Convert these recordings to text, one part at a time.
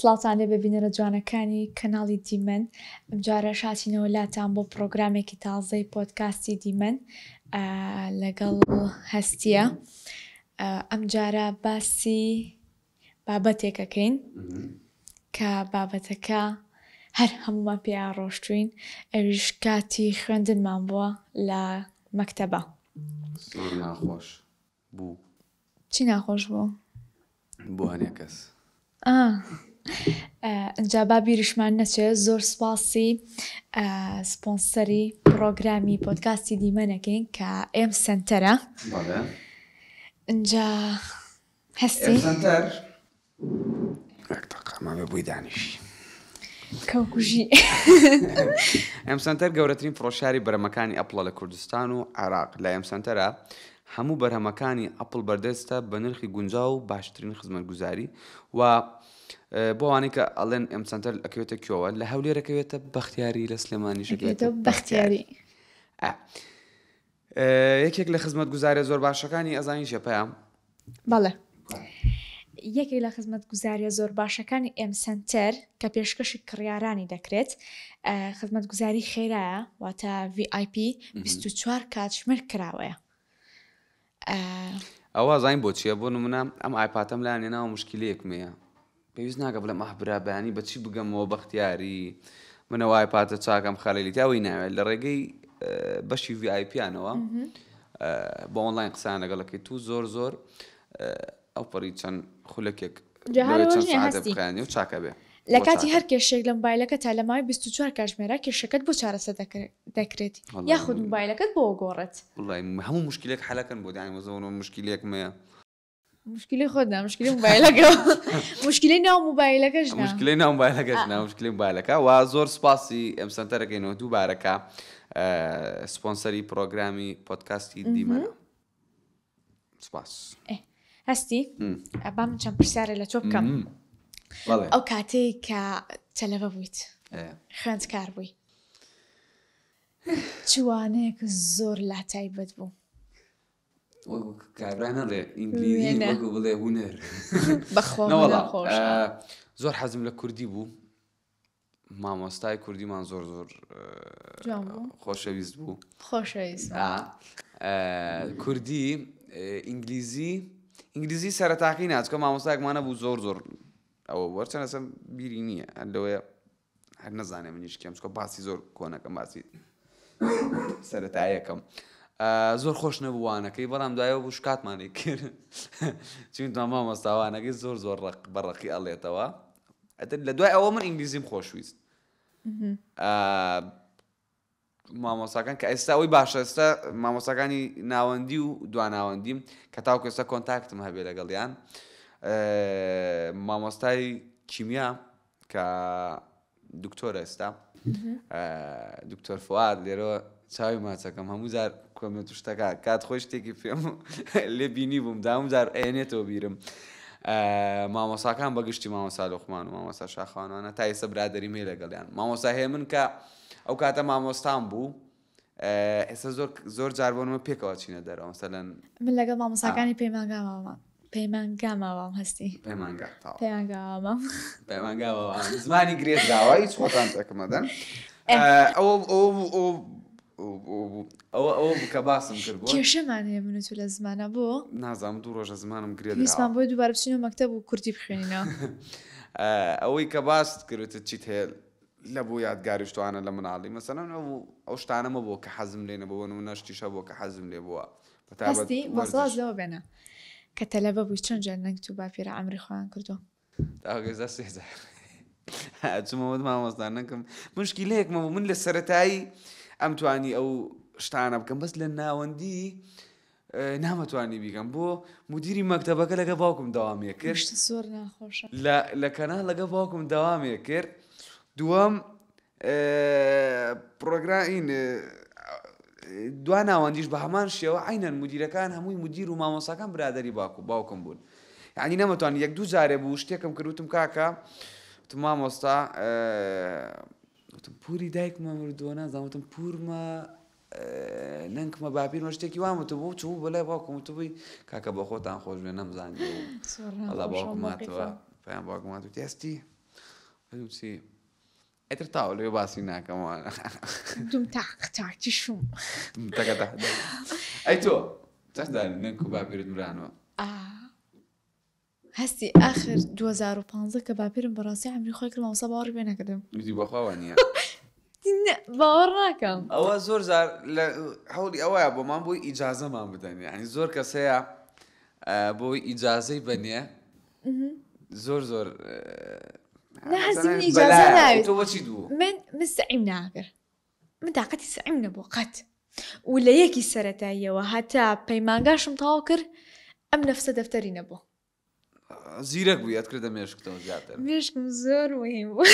سلااوان لێ ببینەرە جوانەکانی کەناڵی دیمەن ئەمجارە شاچینەوە لاتان بۆ پرۆگرامێکی تازەی پۆتکاستی دیمەن لەگەڵ هەستیە ئەمجارە باسی بابەتێکەکەین کە بابەتەکە هەر هەموومان پێ ڕۆشتوین ئەویش کاتی خوێندنمان بووە لە مەکتەبە ناخۆش بوو چی ناخۆش بوو؟ بۆهانە کەس ئەجا با بیریشمان نەچێت زۆر سپاسی سپۆنسەری پرۆگرامی پۆتکاستی دیمەنەکەین کە ئێم سنتەرە ئەجا سەنتەر گەورەترین فڕۆشاری بەرەمەکانی ئەپڵە لە کوردستان و عێراق، لە ئێم سەنتەرە هەموو بەرهەمەکانی ئەپڵ بەردەستە بە نرخی گونجاو و باشترین خزمەتگوزاری و بۆ ئەوانەی کە ئەڵێن ئێم سەنتەر ئەکەوێتە کوێوە لە هەولێرەکەوێتە بەختیاری لە سلێمانیشەکەوێتە بەختیاری. یەکێک لە خزمەتگوزاریە زۆر باشەکانی ئەزانی چیە پەیام؟ بەڵێ یەکێک لە خزمەتگوزاریە زۆر باشەکانی ئێم سەنتەر کە پێشکەشی کڕیارانی دەکرێت خزمەتگوزاری خێرایە واتە VIP 24 کاتژمێر کراوەیە ئەوە زین بۆ چیە بۆ نمونە ئەم ئایپاتەم لایان ناوە مشکلەیەک مەیە پێویست ناکە بڵێم ئاه برا بەیانی بە چی بگەمەوە بەختیاری منەوای پاتە چاکەم خەلەلی تاوەی ناوێت لە ڕێگەی بەشی ڤایپیانەوە بە ئۆنلاین قسان لەگەڵەکەی تو زۆر زۆر ئەو پەڕی چەند خولەکێک و چاکە بێ لە کاتی هەر کێشێک لە مبایلەکە تا لە مای 24 کاتژمێرە کێشەکەت بۆ چارەسە دەکرێت یاخود مبایلەکەت بۆ گۆڕێت هەموو مشکلێک حەلەکەن بۆ دایم زۆن و مشکلێکمەیە مشکلی خۆت نا مشکلی موبایلەکە مشکلی ناو موبایلەکەش نا. مشکلی ناو موبایلەکەش نا مشکلی موبایلەکە و زۆر سپاسی ئەم سەنتەرەکەینەوە دووبارەکە سپۆنسەری پرۆگرامی پۆدکاستی دیمەنە سپاس ئێ، هەستی م. ئەبام چەند پرسیارە لە تۆ بکەم م. بەڵێ ئەو کاتەی کە تەلەبە بوویت ئێ. خوێندکار بووی چ وانەیەک زۆر لا تایبەت بوو زۆر حەزم لە کوردی بوو مامۆستای کوردیمان زۆر زۆر خۆشەویست بوو خۆشەویست کوردی ئینگلیزی ئینگلیزی سەرتاقی ناچکە مامۆستایکمانە بوو زۆر زۆر ئەوە وەرچەنەسم بیری نییە هەندەوەیە هەر نەزانێ منیش کێم چکە باسی زۆر کۆنەکەم باسی سەتایەکەم زۆر خۆش نەبووانەکەی بەڵام دوایەوە بوو شکاتمانی کرد چون تاما مەستاوانەکەی زۆر زۆر ڕق بەڕقی ئەڵێتەوە لە دوای ئەوە من ئینگلیزیم خۆشویست مامۆستاکان کە ئێستا ئەوەی باشە ئێستا مامۆستاکانی ناوەندی و دواناوەندیم کە تاوکو ئێستا کۆنتاکتم هەبێ لەگەڵیان مامۆستای کیمیا کە دکتۆر ئێستا دکتۆر فواد لێرە چاوی ماچەکەم هەموو جار کۆمێت و شتەکە کات خۆی شتێکی پێم لێ بینی بووم داوم جار ئەێنێتەوە بیرم مامۆساکان بەگشتی مامۆسا لۆخمان و مامۆسا شاخوانوانە تا ئێستا برادری مێ لەگەڵیان مامۆسا هەیە من کە ئەو کاتە مامۆستام بوو ئێستا زۆر زۆر جار بۆنمە پێکەوە چینە دەرەوە مەسەلەن من لەگەڵ مامۆساکانی پەیمانگاماوە پەیمانگاماوام هەستی پەیمانگا تاو. پەیمانگامام پەیمانگاوە زمانی گرێت داوا هیچ خۆتان تەکمەدەن ئەوە ئەو ئەوە ئەو بکە باسم کرد بۆ کێشەمان هەیە من و تو لە زمانە بۆ نازام دوو ڕۆژە زمانم گرێت ویستمان بۆی دووبارە بچینە مەکتەب و کوردی بخوێنینەوە ئەوەی کە باست کردت چیت هەیە لەبۆ یادگاری شتوانە لە مناڵی مەسەلەن ئەو ئەو شتانە مەبۆ کە حەزم لێ نەبۆ بۆ نمونە شتیش هەبوە کە حەزم لێ بوە بە تایبەت هەستی وەرزش. وەسواس لەوە بێنە کە تەلەبە بووی چەند جار نەنگ تو باپیرە عەمری خۆیان کردوە. داوەگێزا سێ جار ئەچمەوە وت مامۆستا نەنکم مشکیلەیەک مەبوو من لە سەرەتایی ئەمتوانی ئەو شتانە بکەم بەس لە ناوەندی نامتوانی بیکەم بۆ مدیری مەکتەبەکە لەگە باوکم داوامێ کرد زۆر ناخۆشە لە کەنال لەگە باوکم داوامێ کرد دووەم پرۆگرامین دوا ناوەندیش بە هەمان شێوە عینەن مدیرەکان هەمووی مدیر و مامۆساکان برادری باکو باوکم بوون یعنی نەمەتوان یەک دوو جارێ بوو شتێکم کردوتم کاکە مامۆستا پوری دایکمە مردووە نازانوتم پورمە نەنکمە باپیرمە شتێکی وام وتبوو چوو بۆ لای باوکم وتبووی کاکە بە خۆتان خۆش بێ نەمزانی ئەڵا باوکم ماتەوە پێیان باوکم مات وتی هەستی وتی ئەتر تاوە لێ باسی ناکەمەوە دوم تاقتاکی شوم تەکەدا ئەی تۆ چەندداری نەنک و باپیرت مرانەوە هەستی ئاخر دوو هەزار و پازدە کە باپیرم بەڕاستی عەمری خۆی کرد مامۆستا باوەڕی پێ نەکردم. گوتی بەخوا وا نییە. نە باوەڕ ناکەم. ئەوە زۆر جار لە هەوڵی ئەوەیە بۆمان بۆی ئیجازەمان بدەن یانی زۆر کەس هەیە بۆی ئیجازەی بەنێ زۆر زۆر نا هەستی من ئیجازە ناوێت. تۆ بۆچی دوو؟ من مستعیم ناکرد. من تاقەتی سەعیم نەبوو قەت و لە یەکی سەرەتاییەوە هەتا پەیمانگاشم تەواو کرد ئەم نەفسە دەفتەری نەبوو. زیرەک بوو یاد کردە مێشکتەوە زیاتر مێشکم زۆر مهم بوو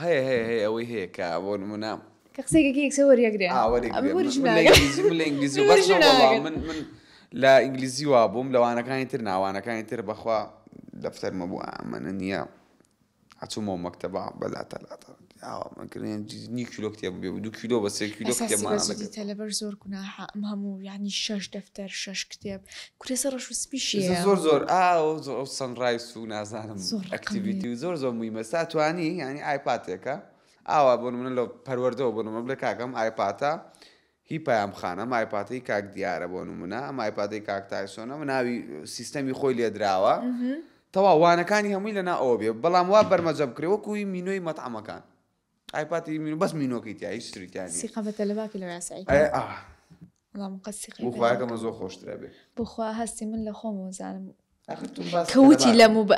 هەیە هەیە هەیە ئەوەی هەیە کە بۆ نمونە کە قسێکێکی یەکسەر وەریەگرێ من من لە ئینگلیزی وا بووم لەوانەکانی تر ناوانەکانی تر بەخوا دەفتەرمە بوو ئەمەە نییە ئەچوومەوە مەکتەبا بە لاتا لاتا ئاوا من کردم یان جزی نیو کیلۆ کتێب بێ و دوو کیلۆ بە سێ کیلۆ ئێستا کتێبمان سیبەجی دەگرت. دیتە لەبەر زۆر گوناحە ئەم هەموو یعنی شەش دەفتەر شەش کتێب کورە سە ڕەش و سپیشی زۆر هەیە زۆر زۆر ئاو زۆر ئەو سەنڕایس و نازانم زۆر ڕقم ئەکتیڤیتی و زۆر زۆر مویمە سا توانی یعنی ئایپاتێکە ئاوا بۆ نمونە لە پەروەردەوە بۆ نمونە بڵێ کاکەم ئایپاتە هی پەیام خان ئەم ئایپاتەی کاک دیارە بۆ نمونە ئەم ئایپاتەی کاک تایسۆن ئەمە ناوی سیستەمی خۆی لێ دراوە تەواو وانەکانی هەمووی لەنا ئەوە بێ بەڵام وا بەرمەجە بکرێ وەکو هی مینۆی مەتعەمەکان ئایپاتی مینو بەس مینۆکەی تیا هیچ تری تیا نیە. سیقە بە تەلەباکی لە راستی ئەی ئەی ئا اللهم قد سیقی بۆ خوایەکەمە زۆر خۆشترە بێ بخوا هەستی من لە خۆمەوە زانم آخر تو باس کە وتی کەلەباکە. لە موبە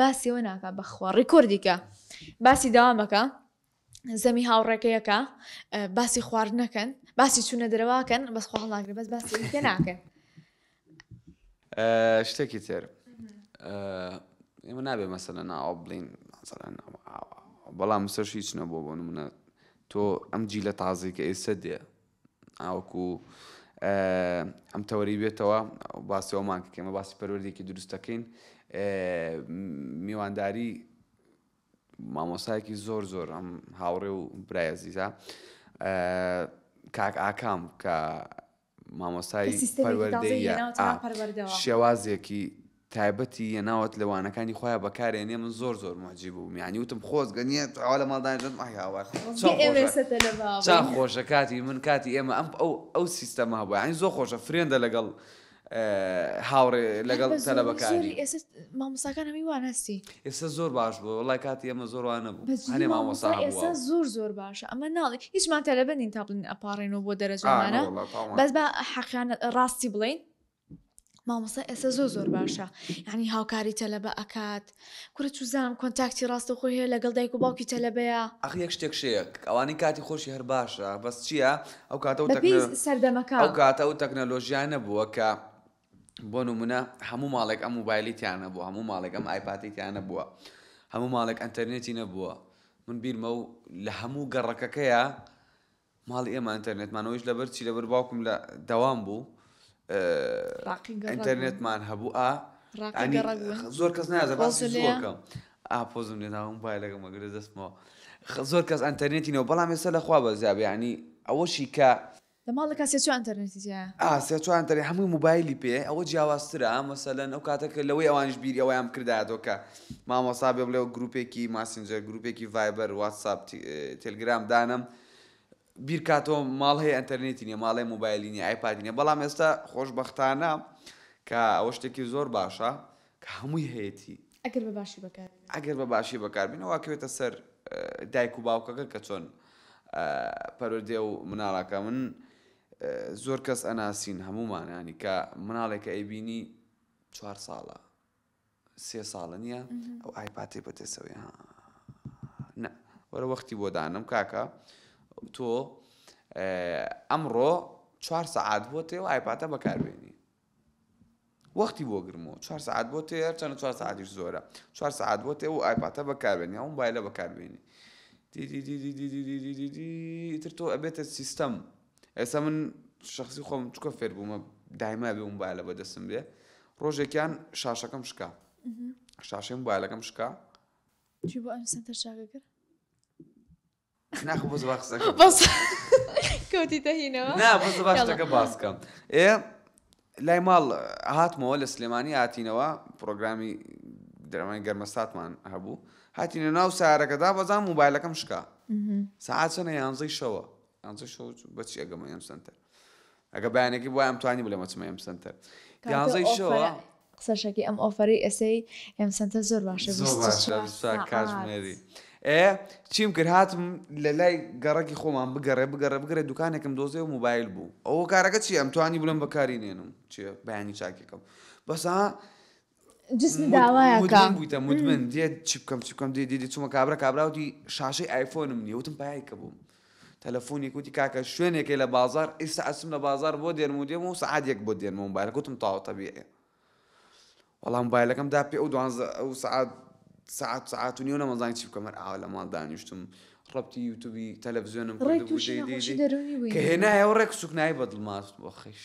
باسی ئەوە ناکا بەخوا ڕیکۆردی کە باسی داوامەکە زەمی هاوڕێکەیەکە باسی خواردنەکەن باسی چوونە دەرەواکەن بەس خوا هەڵناگرێ بەس باسی کە ناکەن شتێکی تر ئێمە نابێ مەسەلە ناوە بڵین بەڵام سەرش هیچ نەبوو بۆ منە تۆ ئەم جی لە تازی کە ئێستا دێ تاوەکو ئەم تەوەرەی بێتەوە باسی ئەومان کە ئێمە باسی پەروەردەیەکی دروست دەکەین میوانداری مامۆسایەکی زۆر زۆر ئەم هاوڕێ و برای عزیزە کاک ئاکام کە مامۆسای پەروەردەیە شێوازێکی تایبەتی یە ناوت لە وانەکانی خۆیا بەکارێنێ من زۆر زۆر موعجیب بووم یانی وتم خۆزگە نیت ئاوا لە ماڵ دانیشت ئای هاوار چەن خۆشە چەن خۆشە کاتی من کاتی ئێمە ئەم ئەو ئەو سیستەمە هەبوو یانی زۆر خۆشە فرێندە لەگەڵ هاوڕێ لەگەڵ تەلەبەکانی مامۆستاکان هەمووی وان هەستی ئێستا زۆر باش بوو وڵای کاتی ئێمە زۆر وان نەبوو هەنێ مامۆستا ئێستا زۆر زۆر باشە ئەمە ناڵی هیچمان تەلەبە نین تا بڵین ئەپارڕێنەوە بۆ دەرەجانە بەس بە حەقیان ڕاستی بڵین مامۆستا ئێستا زۆر زۆر باشە یعنی هاوکاری تەلەبە ئەکات کورە چوزانم کۆنتاکتی ڕاستەخۆی هەیە لەگەڵ دایک و باوکی تەلەبەیە ئەخ یەک شتێک شەیە ئەوانەی کاتی خۆشی هەر باشە بەس چییە ئەو کاتە و بە پێی تەکنەلۆ سەردەمەکە ئەو کاتە ئەو تەکنەلۆژیا نەبووە کە بۆ نمونە هەموو ماڵێک ئەم موبایلی تیان نەبووە هەموو ماڵێک ئەم ئایپاتی تیان نەبووە هەموو ماڵێک ئەنتەرنێتی نەبووە من بیرمە و لە هەموو گەڕەکەکەیە ماڵی ئێمە ئەنتەرنێتمان ئەویش لەبەر چی لەبەر باوکم لە دەوام بوو ئەنتەرنێتمان هەبوو ئا زۆر کەس نازەکەم ئاپۆزم لێناوم بای لەگە مەگرە دەستمەوە زۆر کەس ئەنتەرنێتینەوە بەڵام ێستا لەخوا بەزیابیانی ئەوەشی کە لە ماڵەکە سێچوان ئەتەرنێتی سێچوان تەری هەمووی موبایلی پێ ئەوە جیاوازترە مەسەلەن ئەو کاتەکە لەوەی ئەوانش بیری ئەویان کرداتەوە کە مامۆسا بێ بڵێ گروپێکی ماسنجەر گروپێکی ڤایبەر واتساپ تلگرام دانم بیرکاتەوە ماڵ هەیە ئەتەرنێتی نیە ماڵێ موبایلینی ئایپادینە بەڵام ئێستا خۆشببختانە کە ئەوە شتێکی زۆر باشە کە هەمووی هەیەی ئەگەر بە باشی بەکار ئەگەر بە باشی بەکاربینەوەکەوێتە سەر دایک و باوکەکە کە چۆن پەرۆدێ و مناڵەکە من زۆر کەس ئەناسین هەموومانانی کە مناڵێکە ئەیبینی چوار ساڵە سێ ساڵە نیە ئەو ئایپاتەی بە دەسەوەیە ها نە وەرە وەختی بۆ دانم کاکە تۆ ئەمڕۆ چوار سەعات بۆ تێ و ئایپاتە بەکاربێنی وەختی بۆ گرمەوە چوار سعات بۆ تێ چەند چوار سعاتیش زۆرە چوار سعات بۆ تێ و ئایپاتە بەکاربێنی ئەو بایلە بەکاربێنی تر تۆ ئەبێتە سیستەم ئێستا من شخصی خۆم چکە فێر بوومە دایما بێ موبایلە بەدەستم بێ ڕۆژێکیان شاشەکەم شکا شاشەی موبایلەکەم شکا ناخ بۆز کەوتی دەهینەوە نا بۆز باشەکە باسکەم ئێ لای ماڵ هاتمەوە لە سلێمانی هاتینەوە پرۆگرامی درەمانی گەرمەساتمان هەبوو هاتینە ناو سارەکەدا بەزان موبایلەکەم شکا ساعت چەنە یانزەی شەوە پێنجە شەو بە چی ئەگەمە ئێم سەنتەر ئەگە بەیانێکی بۆ ئەم توانی بلێمە چمە ئێم سەنتەر پێنجەی شەوە قسەشەکی ئەم ئۆفەری ئێسەی ئێم سەنتەر زۆر باشە کاتژمێری ئێ چیم کرد هاتم لە لای گەڕەکی خۆمان بگەڕێ بگەڕێ بگەڕێ دوکانێکم دۆزێ و موبایل بوو ئەوە کارەکە چی ئەم توانی بلم بەکاری نێنم چێ بەیانی چاکێکم بەسا جسمی داوایە کە مدمن بوویتە مدمن دێ چی بکەم چی بکەم دێ دێ دێ چوومە کابرا کابرا وتی شاشەی ئایفۆنم نییە وتم پایەی کە بووم تەلەفۆنێک وتی کاکە شوێنێکی لە بازار ئیستا ئەچم لە بازار بۆ دێنم و دێم و سەعات یەک بۆ دێنمەوە موبایلەکە وتم تەواو تەبیعە وەڵام موبایلەکەم دا پێ ئەو دوانزە ئەو سەعات سەعات سەعات و نیو نەمەزانی چی بکەم هەر ئاوا لە ماڵ دانیشتم ڕەبتی یوتوبی تەلەڤزیۆنم ڕێک کردبوو تووشی دێ دێ نەخۆشی دێ دەروونی بووی کە هێنایەوە ڕێک سوکنایی بە دڵماست بۆ خەیش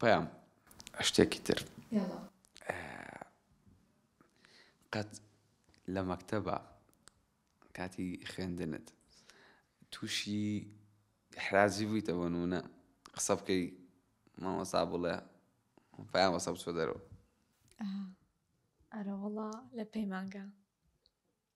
پەیام شتێکی تر قەت لە مەکتەبە کاتی خوێندنت تووشی حرازی بوویتەوە نونە قسە بکەی مامەسا بڵێ پایان وەسە بچۆ دەرەوە ئەرەوەڵا لە پەیمانگە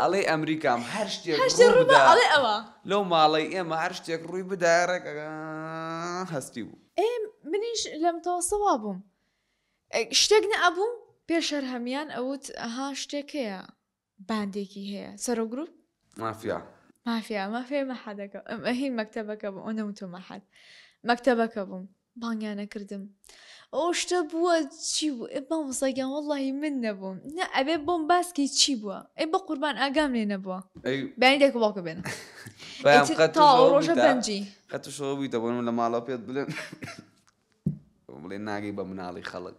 ئەڵێی ئەمریکام هەر شتێک ڕووبدا لەو ماڵەی ئێمە هەر شتێک ڕووی بدایە ڕێک هەستی بوو. ئێ منیش لەم تۆسە وا بووم شتێک نەئەبوو پێش هەر هەمیان ئەوت ها شتێک هەیە باندێکی هەیە سەرۆ گروپ مافیا مافیا مافێ مەحەدەکە ئەم ئەهی مەکتەبەکە بوو ئەو نەوتۆ مەحەد مەکتەبەکە بووم بانگیان ئەکردم ئەوە شتە بووە چی بوو ئێ مامۆستا گیان وەڵاهی من نەبووم نا ئەبێ بۆم باس کەی چی بووە ئەی بەقوربان ئاگام لێ نەبووە بەیانی دایک و باوکم بێنن ئیتر تا ئەو ڕۆژە بەنجی قەت تووشەوە بوویتە بۆ من لە ماڵەوە پێت بڵێم بڵێ ناگەی بە مناڵی خەڵک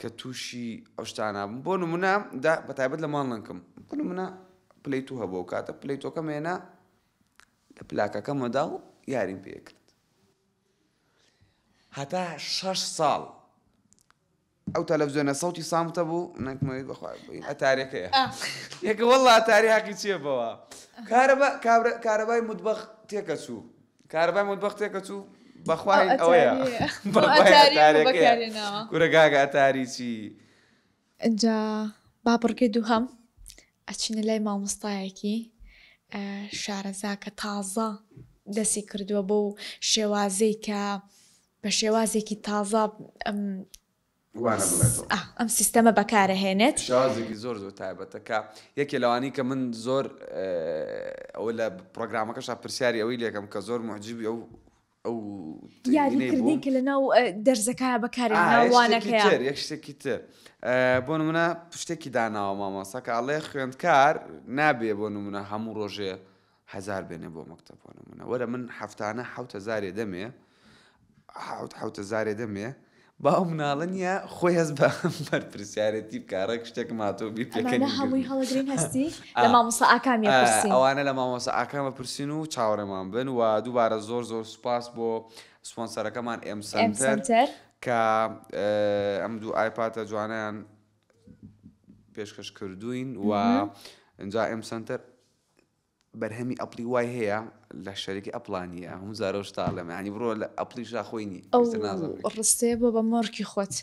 کە تووشی ئەو شتانە بووم بۆ نموونە دا بە تایبەت لە ماڵنکم بۆ نموونە پلیتو هەبوو و کاتە پلیتۆکەم هێنا لە پلاکەکە مەدا و یاریم پێکرد هەتا شەش ساڵ ئەو تەلەڤزیۆنە سەوتی سامتە بوو نەکمەوەی بەخوای بووین ئەتارەکەیە یەکە وەڵا ئەتاری حەقی چیە بەوە کارەبای مدبەخ تێکە چوو کارەبای مەتبەخ تێکەچوو بەخوا ئەو هین ئەوەیە ئەتاریەیە. ئەو بەخوای ئەتاریەم ئەتارەکەیە. بەکارێ ناوە. کورە گاگە ئەتاری چی ئینجا با بڕگەی دووهەم ئەچینە لای مامۆستایەکی ئە، شارەزا کە تازە دەسی کردووە بەو شێوازەی کە بە شێوازێکی تازە ئەم وانە بڵێتەوە. ئا ئەم سیستەمە بەکارەهێنێت. شێوازێکی زۆر زۆر تایبەتە کە یەکێ لەوانەی کە من زۆر ئەوە لە پڕۆگرامەکەشا پرسیاری ئەوەی لێکەم کە زۆر موعجیبی ئەو ئەو یاری ترینەی کردی بووم. کە لەناو ئە، دەرزەکایە بەکارێ ئا ناو یەک شتێکی تر وانەکەیە. یەک شتێکی تر ئە، بۆ نمونە شتێکی داناوە مامۆستا کە ئەڵێ خوێندکار نابێ بۆ نمونە هەموو ڕۆژێ هەزار بێنێ بۆ مەکتەب بۆ نموونە وەرە من هەفتانە حەوت هەزارێ دەمێ حەوت حەوت هەزارێ دەمێ با ئەو مناڵە نییە خۆی هەست بە بەرپرسیارەتی بکە ڕێک شتێکم هاتۆ بیر ئەمانە هەمووی هەڵەگرین هەستی لە آه. مامۆسا ئاکامی آه، پرسین ئەوانە لە مامۆسا ئاکامە پرسین و چاوەڕێمان بن و دووبارە زۆر زۆر سوپاس بۆ سپۆنسەرەکەمان ئێم ئێم سەنتەر سەنتەر کە ئە، ئەم دوو ئایپاتە جوانیان پێشکەش کردوین و مهم. اینجا ئێم سەنتەر بەرهەمی ئەپڵی وای هەیە لە شەرەکی ئەپڵا نیە هەموو جارەو شتاڵێم یانی بڕۆ لە ئەپڵی شا خۆی نی ئەو ڕستەیە بۆ بە مۆڕکی خۆت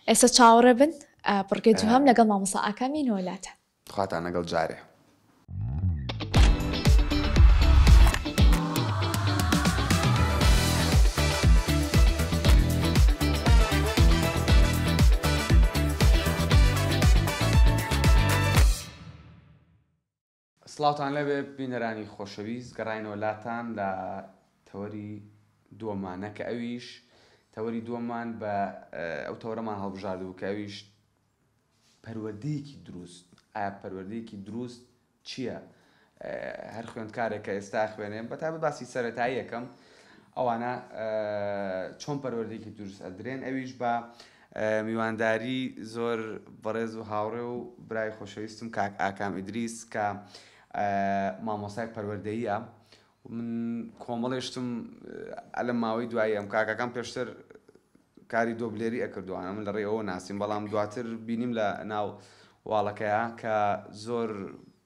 ئێستا چاوەڕێ بن بڕگەی دوهام لەگەڵ مامۆسا ئاکامی نۆلاتە خواتان لەگەڵ جارێ سڵاوتان لێبێ بینەرانی خۆشەویست، گەڕاینەوە لاتان لە تەوەری دووەمانە کە ئەویش تەوەری دووەممان بە ئەو تەوەرەمان هەڵبژاردبوو کە ئەویش پەروەردەیەکی دروست ئایا پەروەردەیەکی دروست چییە؟ هەر خوێندکارێک کە ئێستا خوێنێ بە تابە باسی سەرەتاییەکەم ئەوانە چۆن پەروەردەیەکی دروست ئەدرێن ئەویش بە میوانداری زۆر بەڕێز و هاوڕێ و برای خۆشەویستم کاک ئاکام ئیدریس کە مامۆستای پەروەردەییە من کۆمەڵێ شتم لەم ماوەی دوایی ئەم کاکەکان پێشتر کاری دۆبلێری ئەکردوانە من لە ڕێ ئەوە ناسیم بەڵام دواتر بینیم لە ناو واڵەکەیە کە زۆر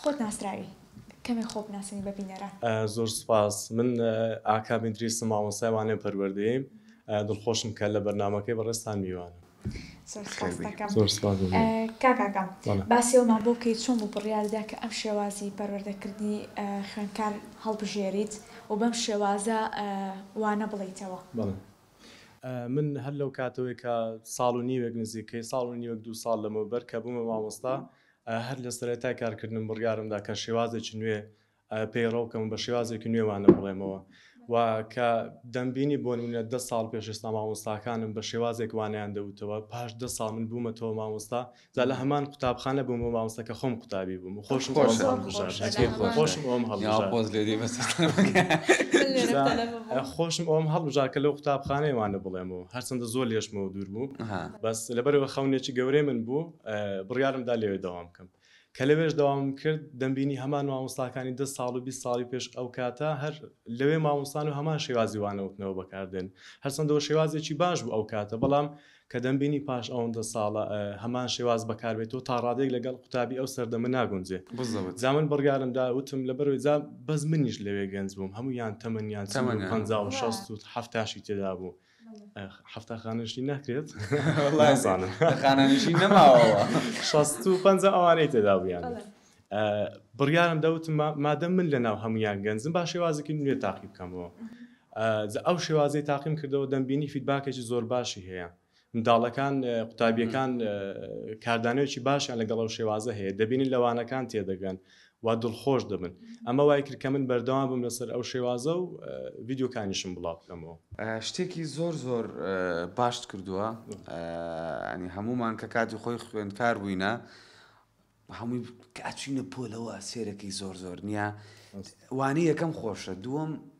خۆت ناسراوی کەمێک خۆ بناسێنی بە بینەران. زۆر سوپاس من ئاکام ئیدریسم مامۆستای وانەی پەروەردەیەیم دڵخۆشم کە لە بەرنامەکەی بەڕێزتان میوانم زۆر سوپاست دەکەم زۆر سوپاس دەکەم. ئە، کاک ئاکام بەڵێ. باسی ئەومان بۆ بکەی چۆن بوو بڕیارت دا کە ئەم شێوازی پەروەردەکردنی ئە، خوێندکار هەڵبژێریت و بەم شێوازە ئە، وانە بڵێیتەوە؟ بەڵێ. ئە، من هەر لەو کاتەوەی کە ساڵ و نیوێک نزیکەی ساڵ و نیوێک دوو ساڵ لەمەوبەر کە بوومە مامۆستا هەر لە سەرەتای کارکردنم بڕیارم دا کە شێوازێکی نوێ پەیڕەو بکەم و بە شێوازێکی نوێ وانە بڵێمەوە و کە دەمبینی بۆ نموونە دە ساڵ پێش ئێستا مامۆستاکانم بە شێوازێک وانەیان دەوتەوە، پاش دە ساڵ من بوومەتەوە مامۆستا، جا لە هەمان قوتابخانە بوومەوە مامۆستا کە خۆم قوتابی بووم و خۆشم ئەوەم خۆشە هەڵبژارد، جێی جێی خۆشە. خۆشم ئەوەم یا هەڵبژارد. پۆز لێ دێ بەس جا خۆشم ئەوەم هەڵبژارد کە لەو قوتابخانەیە وانە بڵێمەوە، هەرچەندە زۆر لێشمەوە دوور بوو، ها. بەس لەبەرئەوە خەونێکی گەورەی من بوو، بڕیارم دا لەوێ دەوام بکەم. کە لەوێش دەوامم کرد، دەمبینی هەمان مامۆستاکانی دە ساڵ و بیست ساڵی پێش ئەو کاتە هەر لەوێ مامۆستان و هەمان شێوازی وانەوتنەوە بەکار دێن. هەرچەندەوە شێوازێکی باش بوو ئەو کاتە، بەڵام کە دەمبینی پاش ئەوەندە ساڵە هەمان شێواز بەکار بێتەوە، تا ڕادەیەک لەگەڵ قوتابی ئەو سەردەمە ناگونجێ. بزەوت. جا من بڕیارم دا، وتم لەبەرەوەی جا بەس منیش لەوێ گەنج بووم، هەموویان تەمەنیان چل و پەنجا و شەست و حەفتاشی تێدا بوو. حەفتا خانەشی ناکرێت نازانم خانەنشی نەماوە شەست و پەنجا ئەوانەی تێدا بوویان بڕیارم دەوتم مادە من لە ناو هەمویان گەنجم با شێوازێکی نوێ تاقی بکەمەوە ئەو شێوازی تاقیم کردەوە دەمبینی فیدباکێکی زۆر باشی هەیە منداڵەکان قوتابیەکان کاردانەوەکی باشیان لەگەڵ ئەو شێوازە هەیە دەبینن لەوانەکان تێدەگەن وا دڵخۆش دەبن. ئەمە وای کرد کە من بەردەوام بم لەسەر ئەو شێوازە و ڤیدیۆکانیشم بڵاو بکەمەوە. شتێکی زۆر زۆر باشت کردووە یانی هەموومان کە کاتی خۆی خوێندکار بووینە هەمووی کە ئەچووینە پۆلەوە سێرەکەی زۆر زۆر نییە وانەی یەکەم خۆشە دووەم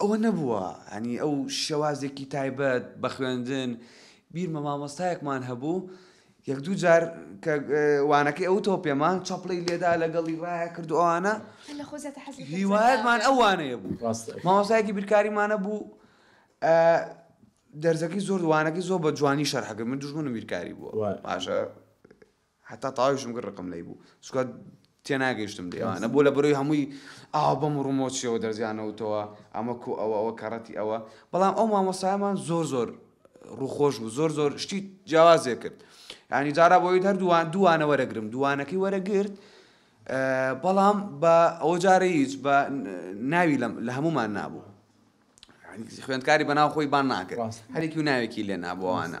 ئەوە نەبووە یانی ئەو شێوازێکی تایبەت بە خوێندن بیرمە مامۆستایەکمان هەبوو یەک دوو جار کە وانەکەی ئەو تۆ پێمان چاپڵی لێدا لەگەڵی ڕایە کرد ئەوانە هیوایەتمان ئەوانەیە بوو مامۆستایەکی بیرکاریمانە بوو دەرزەکەی زۆر دووانەکەی زۆر بە جوانی شەرحەکە من دژمنم بیرکاری بووە باشە هەتا تاویشم کرد ڕقم لێی بوو چونکە تێناگەیشتم لێ ئەوانە بۆ لە بەرۆی هەمووی ئاو بەم و ڕمۆچیەوە دەرزیانەوتەوە ئەمە کو ئەوە ئەوە کەڕەتی ئەوە بەڵام ئەو مامۆسایمان زۆر زۆر ڕووخۆش بوو زۆر زۆر شتی جیاوازێ کرد ینی جارا بۆی هەر دووان دووانە وەرەگرم دووانەکەی وەرەگرت بەڵام بە ئەو جارە هیچ بە ناوی لە هەمومان نابوو خوێندکاری بەناو خۆی بان ناکرد هەرێکی و ناوێکی لێ نابووانە.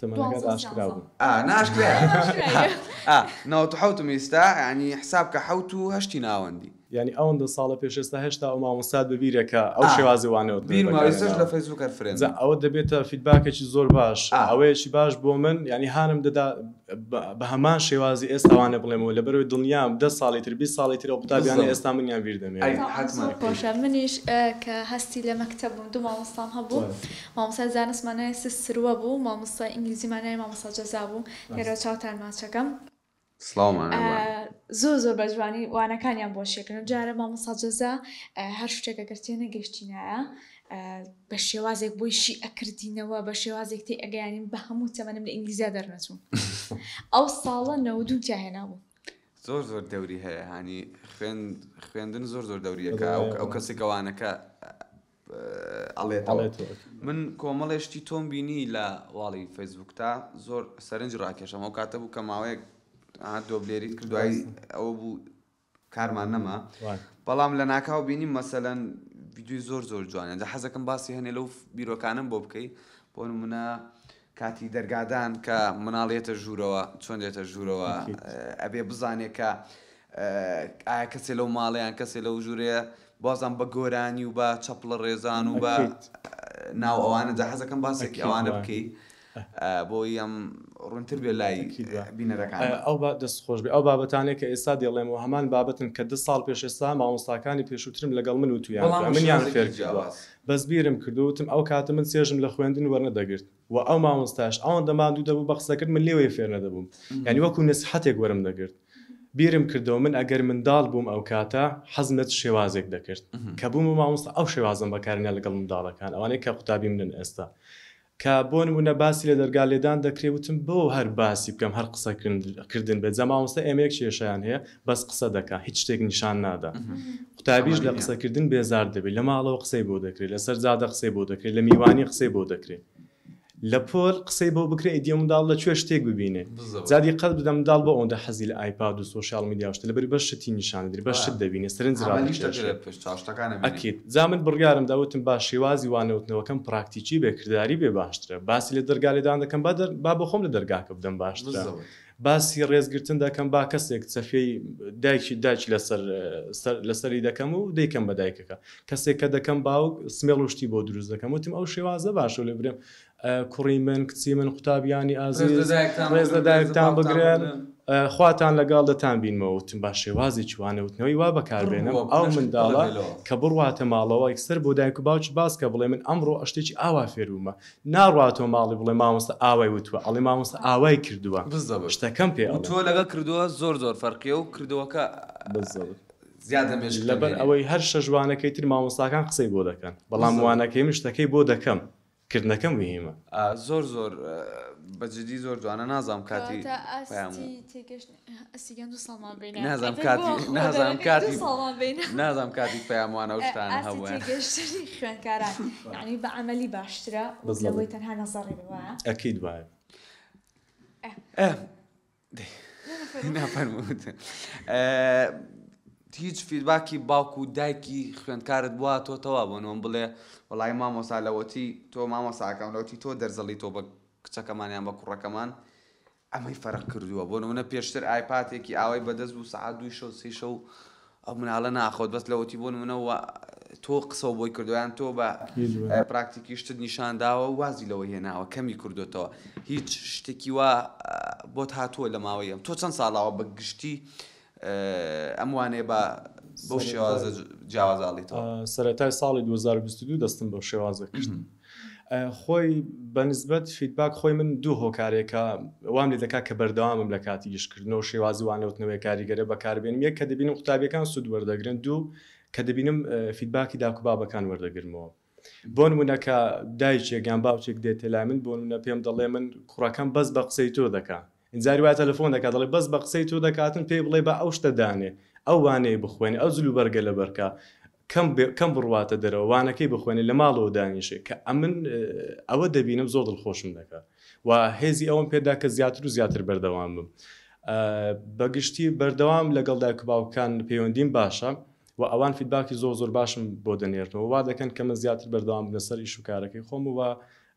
تەمەنەکەت ئاشکرا بوو. ئا ناشکرایە ئا ئا نەوەت و حەوتم ئیستا یانی حساب کە حەوت و هەشتی ناوەندی. یانی ئەوەندە ساڵە پێش ئێستا هێشتا ئەو مامۆستات بە بیرە کە ئەو شێوازی وان نەوەت بەکار هێناوە. بیرمە ئیستاش لە فەیسبووک هەر فرێندم. جا ئەوە دەبێتە فیدباکێکی زۆر باش ئەوەیەکی باش بۆ من یانی هانم دەدا بە هەمان شێوازی ئێستا وانە بڵێمەوە لەبەرەوەی دڵنیام دە ساڵی تر بیست ساڵی تر ئەو قوتابیانەی ئێستا منیان بیر دەمێنن. ئەی حەتمەن. زۆر خۆشە منیش کە هەستی لە مەکتەب بووم دوو مامۆستام هەبوو. مامۆستای زانست مانای س سروە بوو مامۆستای ئینگلیزی مانای مامۆستا جەزا بوو لێرەوە چاوتان ماچەکەم. سڵاو مانای وان. زۆر زۆر بە جوانی وانەکانیان بۆ شێکن ئەمجارە مامۆستا جەزا هەر شتێک ئەگەر تێ نەگەشتینایە بە شێوازێک بۆی شی ئەکردینەوە بە شێوازێک تێ ئەگەیانین بە هەموو تەمەنم لە ئینگلیزیا دەرنەچووم ئەو ساڵە نەوەد و تیا هێنابوو. زۆر زۆر دەوری هەیە هانی خوێن خوێندن زۆر زۆر دەوریەکە ئەو کەسێکە وانەکە ئەڵێتەوە من کۆمەڵێ شتی تۆم بینی لە واڵی فەیسبوکتا زۆر سەرنج ڕاکێشەم ئەو کاتە بوو کە ماوەیەک دۆبلێریت کرد دوای ئەوە بوو کارمان نەما بەڵام لە ناکاو بینیم مەسەەن ویددیوی زۆر زۆر جوانە دە حەزەکەم باسی هەنێ لەو بیرۆکانم بۆ بکەیت بۆ منە کاتی دەرگادان کە مناڵ یەتە ژوورەوە چۆن دێتە ژوورەوە ئەکید. ئەبێ بزانێ کە ئایا کەسێ لەو ماڵە یان کەسێ لەو ژوورەیە بازم بە گۆرانی و بە چەپڵە ڕێزان و بە ئەکید. ناو ئەوانە جا حەزەکەم باسێکی ئەکید ئەوانە وایە بکەی بۆی ئەم ڕوونتر بێ لای ئەکید وایە بینەرەکان. ئایا ئەو با دەست خۆش بێ ئەو بابەتانەی کە ئێستا دێڵێم وە هەمان بابەتن کە دە ساڵ پێش ئێستا مامۆستاکانی پێشووترم لەگەڵ من وتوویان بەڵام کە منیان وشیاریکی فێرکردووە جیاواز. بەس بیرم کرد و وتم ئەو کاتە من چێژم لە خوێندن وەرنەدەگرت و ئەو مامۆستایەش ئەوەندە ماندوو دەبوو بە قسەکرد من لێوەی فێر نەدەبووم یانی وەکو نەسیحەتێک وەرم دەگرت بیرم کردەوە من ئەگەر منداڵ بووم ئەو کاتە حەزم لە چ شێوازێک دەکرد کە بوومە مامۆستا ئەو شێوازەم بەکارهێنا لەگەڵ منداڵەکان ئەوانەی کە قوتابیم نن ئێستا کە بۆ نمونە باسی لە دەرگا لێدان دەکرێ وتم بۆ هەر باسی بکەم هەر قسە کردن بێت جا مامۆستا ئێمە یەک کێشەیان هەیە بەس قسە دەکا هیچ شتێک نیشان نادا قوتابیش لە قسە کردن بێزار دەبێت لە ماڵەوە قسەی بۆ دەکرێت لەسەر جادە قسەی بۆ دەکرێت لە میوانی قسەی بۆ دەکرێت لە پۆل قسەی بۆ بکرێت ئیدی ئەو منداڵ لە کوێ شتێک ببینێ. جا دیقەت بدە منداڵ بۆ ئەوەندە حەزی لە ئایپاد و سۆشیاڵ میدیا و شتە لەبەری بەس شتی نیشان ئەدرێ بەس شت دەبینێ سەرنج ڕادەکێشێ ئەکید جا من بڕیارم دا وتم با شێوازی وانەوتنەوەکەم پراکتیکی بێ کرداری بێ باشترە باسی لە دەرگا لێدان دەکەم با دەر با بۆخۆم لە دەرگاکە بدەم باشترە باسی ڕێز گرتن دەکەم با کەسێک چەفیەی دایکی داکی لەسەر سەر لەسەری دەکەم و دەیکەم بە دایکەکە کەسێک کە دەکەم باوک سمێڵ و شتی بۆ دروست دەکەم وتم ئەو شێوازە باشە لێ برێم کوڕی من کچی من قوتابیانی ئازیز ڕێز لە دایکتان بگرن خواتان لەگەڵ دەتان بینمەوە وتم با شێوازی چوانە وتنەوەی وا بەکاربێنم ئەو منداڵە کە بڕواتە ماڵەوە یکسەر بۆ دایک و باوکی باس کە بڵێ من ئەمڕۆ شتێکی ئاوا فێربوومە ناڕواتەوە ماڵی بڵێ مامۆستا ئاوای وتوە ئەڵێ مامۆستا ئاوای کردووە شتەکەم پێ ئەڵێ تۆ لەگەڵ کردووە زۆر زۆر فەرقیە و کردووەکە بزەوت زیاد لە مێژ لەبەر ئەوەی هەر شەش وانەکەی تر مامۆستاکان قسەی بۆ دەکەن بەڵام وانەکەی من شتەکەی بۆ دەکەم کردنەکە موهیمە. زۆر زۆر بە جدی زۆر جوانە نازانم کاتی نازانم کاتی پەیام وان ئەو شتانە هەبوایە ئەکید وایە. هیچ فیدباکی باوک و دایکی خوێندکارت بواتۆتەوە بۆ نۆم بڵێ وڵی مامۆسا لەوەتی تۆ مامۆساکەم لەوتی تۆ دەرزەڵی تۆ بە کچەکەمانیان بە کوڕەکەمان ئەمەی فەرق کردووە بۆ نمونە پێشتر ئایپاتێکی ئاوای بەدەست بوو سعات دوو شەو سی شەو ئەو مناڵە ناخۆت بەس لەوەتی بۆ نمونە وا تۆ قسەو بۆی کردوە یان تۆ بە پراکتیکی شتت نیشان داوە وازی لەوە هێناوە کەمی کردوتەوە هیچ شتێکی وا بۆت هاتووە لە ماوەیەم تۆ چەند ساڵاوە بە گشتی ئەم وانەیە بە بەو شێوازە جیاوازاڵیتەوە؟ سەرەتای ساڵی 2022 دەستم بەو شێوازە کرد خۆی بە نسبەت فیدباک خۆی من دوو هۆکارێکە وام لێ دەکات کە بەردەوامم لە کاتی ئیشکردنەوە شێوازی وانەوتنەوەی کاریگەرە بەکاربێنم یەک کە دەبینم قوتابیەکان سوود وەردەگرن دوو کە دەبینم فیدباکی داکو بابەکان وەردەگرمەوە بۆ نمونە کە دایکێک یان باوکێک دێتە لای من بۆ نمونە پێم دەڵێ من کوڕەکەم بەس بە قسەی تۆ دەکا جاری وایە تەلەفۆن دەکات دەڵێ بەس بە قسەی تۆ دەکاتن پێی بڵێ با ئەو شتە دانێ ئەو وانەیە بخوێنێ ئەو جلوبەرگە لەبەر کا کەم کەم بڕواتە دەرەوە وانەکەی بخوێنێ لە ماڵەوە دانیشێ کە ئەمن ئەوە دەبینم زۆر دڵخۆشم دەکا و هێزی ئەوم پێدا کە زیاتر و زیاتر بەردەوام بم بەگشتی بەردەوام لەگەڵ دایک باوکان پەیوەندیم باشە و ئەوان فیدباکی زۆر زۆر باشم بۆ دەنێرنەوە وا دەکەن کە من زیاتر بەردەوام بنە سەر ئیش و کارەکەی خۆم و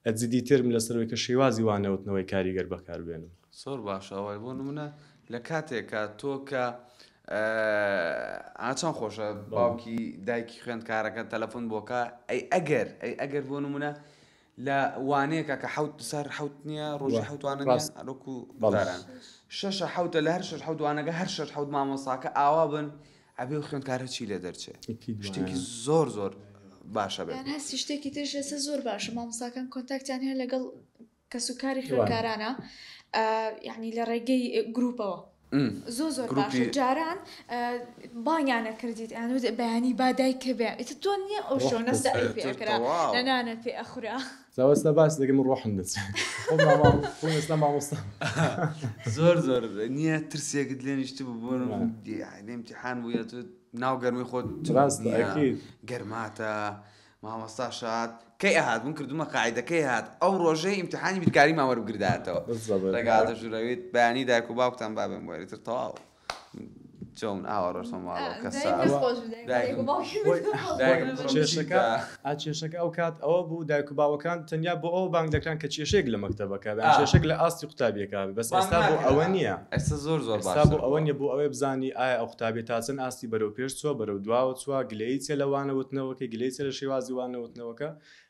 ە جدی تێرم لەسەرەوەی کە شێوازی وا نەوتنەوەی کاریگەر بەکار بێنم. زۆر باشە وای بۆ نمونە لە کاتێکا تۆ کە ئا چەند خۆشە باوکی دایکی خوێندکارەکە تەلەفۆن بۆکە ئەی ئەگەر ئەی ئەگەر بۆ نمونە لە وانەیەکە کە حوت سەر حوت نییە ڕۆژی حوتوانە ڕاست. ئەرۆکو بەڵێ. داران شەشە حوتە لە هەر شەش حوتوانەکە هەر شەش حوت مامۆساکە ئاوا بن ئەبێ خوێندکار هەرچی لێ دەرچێ شتێکی زۆر زۆر باشە بێت یان هەستی شتێکی ترش لەسە زۆر باشە مامۆساکان کۆنتاکتیان هەیە لەگەڵ کەس و کاری خوێندکارانە یعنی لە ڕێگەی گروپەوە زۆ زۆر باشە جاران بانیانە کردیت ئەیان وت بەیانی بادای کە بێ ئیتر تۆ نییە ئەو شۆنە سەعی پێکرا لە نانە پێ ئەخورا زاوەستا باس دەکەم ڕۆحم دەچێت مامۆستا زۆر زۆر نییە ترسێکت لێ نیشت بوو بۆ ئیمتحان بووە تو ناو گەرمی خۆت ڕاست گەرماتە مامۆستا شاد کەی ئەهات بوون کردومە قاعدەکەی هات ئەو ڕۆژەی ئیمتحانی بیرکاری ماوەرگرداتەوە لەگاتە ژورەویت بەیانی دایک و باوکتان بابم وەرتر تەواو چۆن ئاوا ڕۆشتمە ماڵەوە کە ساوە. دایکم خۆش بوو، دایکم دایکم. دایکم باوکم خۆی زۆر خۆش بوو. دایکم خۆش کێشەکە ئا کێشەکە ئەو کات ئەوە بوو دایک و باوەکان تەنیا بۆ ئەوە بانگ دەکران کە کێشەیەک لە مەکتەبەکە بێ یان کێشەیەک لە ئاستی قوتابیەکە بێ بەس بانگ ئێستا بۆ ناکرا. ئەوە نییە ئێستا زۆر زۆر ئێستا باشتر بۆ ئەوە بووە. نییە بۆ ئەوەی بزانی ئایا ئەو قوتابیە تا چەند ئاستی بەرەو پێش چووە بەرەو دواوە چووە گلەیی چیە لە وانەوتنەوەکەی گلەیی چیە لە شێوازی وانەوتنەوەکە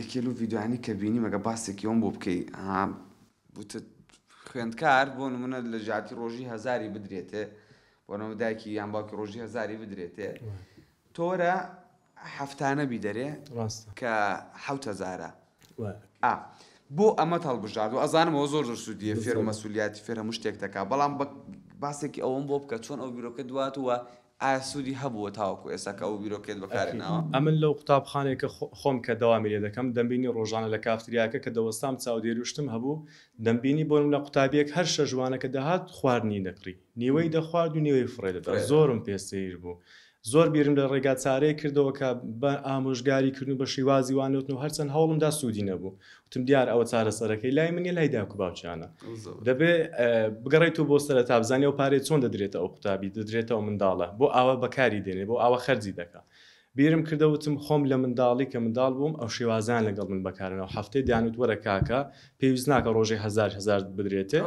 یەکێ لەو ڤیدیۆیانەی کە بینیم ئەگەر باسێکی ئەوم بۆ بکەی ها وتت خوێندکار بۆ نمونە لە ژاتی ڕۆژی هەزاری بدرێتێ بۆ نەوە دایکی یان باوکی ڕۆژی هەزاری بدرێتێ تۆرە هەفتانە بیدەرێ ڕاستە کە حوت هەزارە وە ئا بۆ ئەمە هەڵبژارد و ئەزانم ئەوە زۆر زۆر سوودیە فێر و مەسوولیاتی فێر هەموو شتێک دەکا بەڵام بە باسێکی ئەوم بۆ بکە چۆن ئەو بیرۆکە دوات وە ئایا سوودی هەبووە تاوەکو ئێستا کە ئەو بیرۆکەیەت بەکاری ناوە؟ ئەمن لەو قوتابخانەی کە خۆم کە دەوامی لێ دەکەم دەمبینی ڕۆژانە لە کافتریاکە کە دەوەستام چاودێروشتم هەبوو دەمبینی بۆ نمونە قوتابیەک هەر شەژوانە کە دەهات خواردنی دەکڕی نیوەی دەخوارد و نیوەی فڕێ دەدا زۆرم پێ سەیر بوو زۆر بیرم لە ڕێگا چارەیەک کردەوە کە بە ئامۆژگاری کردن بە شیوازی وانەوتنەوە هەرچەند هەوڵم دا سوودی نەبوو وتم دیار ئەوە چارەسەرەکەی لای من نیە لای داکو باوکیانە دەبێ بگەڕێتەوە بۆ سەرە تابزانانی ئەو پارێ چۆن دەدرێتە ئەو قوتابی دەدرێتەوە منداڵە بۆ ئاوا بەکاری دێنێ بۆ ئاوا خەرجی دەکە بیرم کردەوتم خۆم لە منداڵی کە منداڵ بووم ئەو شێوازان لەگەڵ من بەکارنەوە هەفتەی دانوت وەرە کاکە پێویست ناکە ڕۆژی هزار هزار بدرێتێ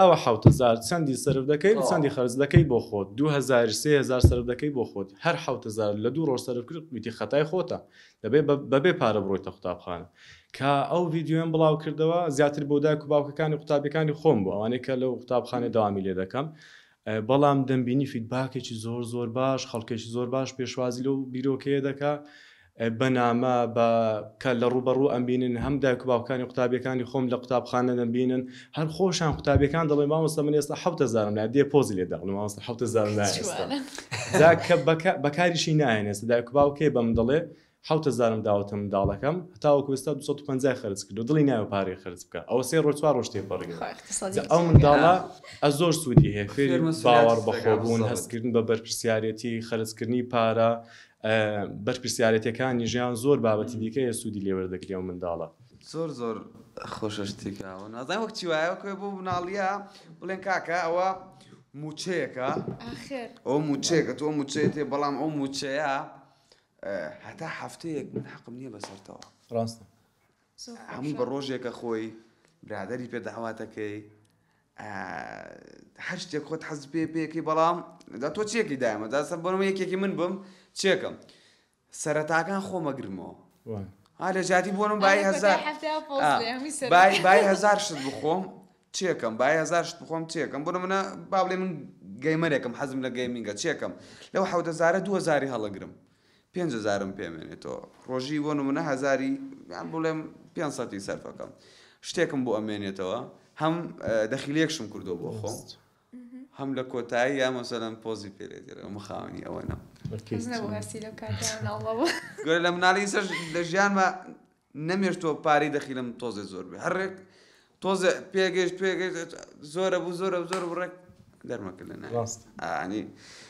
ئەوە حوتزار چەندی سرف دەکەی چەندی خەرج دەکەی بۆ خۆت دوهزار سهزار سرف دەکەی بۆ خۆت هەر حوتزار لە دوو ڕۆژ سرف کرد وتی خەتای خۆتە دەبێت بە بێ پارە بڕۆیتە قوتابخانە. کە ئەو ڤیدیۆیەم بڵاو کردەوە زیاتر بۆ دایک و باوکەکانی قوتابیەکانی خۆم بوو ئەوانەی کە لەو قوتابخانەی دەوامی لێ دەکەم بەڵام دەمبینی فیدباکێکی زۆر زۆر باش خەڵکێکی زۆر باش پێشوازی لەو بیرۆکەیە دەکا بەنامە بە کە لە ڕوبەڕوو ئەمبینن هەم دایک و باوکانی قوتابیەکانی خۆم لە قوتابخانە دەمبینن هەر خۆشان قوتابیەکان دەڵێن مامۆستا من ئێستا حەوت هەزارم لایە دێ پۆزی لێ دەقنم مامۆستا حەوت هەزارم لایە ئێستا جوانە جا کە بەکە بەکاریشی نایەن ئێستا دایک و باوکێ بە من دەڵێ حەوت هەزارم داوەتە منداڵەکەم هەتاوەکو ئێستا دوو سەد و پەنجای خەرج کردو دڵی نایە پارەی خەرج بکا ئەوە سێ ڕۆژ چوار ڕۆژ تێپەڕیوە خوا اقتصادی جا ئەو بچێ. منداڵە ئە زۆر سوودی هەیە فێری فێر مەسولیەت باوەڕ دەکات، بەخۆ بوون بزەڵێت. هەستکردن بە بەرپرسیارەتی خەرجکردنی پارە ئە، بەرپرسیارەتیەکانی ژیان زۆر بابەتی دیکە هەیە سوودی لێ وەردەگری ئەو منداڵە. زۆر زۆر خۆشە شتێک ئاوا نازانم وەک چی وایە وەکوێ بۆ مناڵیە بڵێن کاکە ئەوە موچەیەکە ئاخر ئەو موچەیەکە تۆ موچەیە تێ بەڵام ئەو موچەیە هەتا هەفتەیەک من حەقم نییە بەسەرتەوە ڕاستە هەمووی بە ڕۆژێکە خۆی برادری پێ داواتەکەی هەر شتێک خۆت حەز پێ پێەکەی بەڵام دا تۆ چێکی دایمە دا سەر بۆنەوە یەکێکی من بم چێکم سەرەتاکان خۆم ئەگرمەوە ها لە جیاتی بۆ نمونە بای هەزار بای هەزار شت بخۆم چێکەم بای هەزار شت بخۆم چێکەم بۆ نمونە با بڵێ من گەیمەرێکم حەزم لە گەیمینگە چێکەم لەو حەوتە زارە دووە زاری هەڵەگرم پێنج هەزارم پێمێنێتەوە ڕۆژی بۆ نمونە هەزاری یان بڵێم پێ سەتی سەرفەکەم شتێکم بۆ ئەمێنێتەوە هەم دەخیلێکشم کردو بۆ خۆم هەم لە کۆتاییا مەسەلەن پۆزی پێ لێ دێرێ و من خاوەنی ئەوە نەم. کەس نەبوو هەستی لەو کاتە مناڵە بوو. گۆرە لە مناڵیسەش لە ژیانما نەمێشتووە پارەی دەخیلم تۆزێ زۆر بێ هەر ڕێک تۆزێ پێگەیشت پێگەیشت زۆرە بوو زۆرە زۆر بوو ڕێک دەرمەکرد لە ناوی. ڕاستە. ئا ئەنی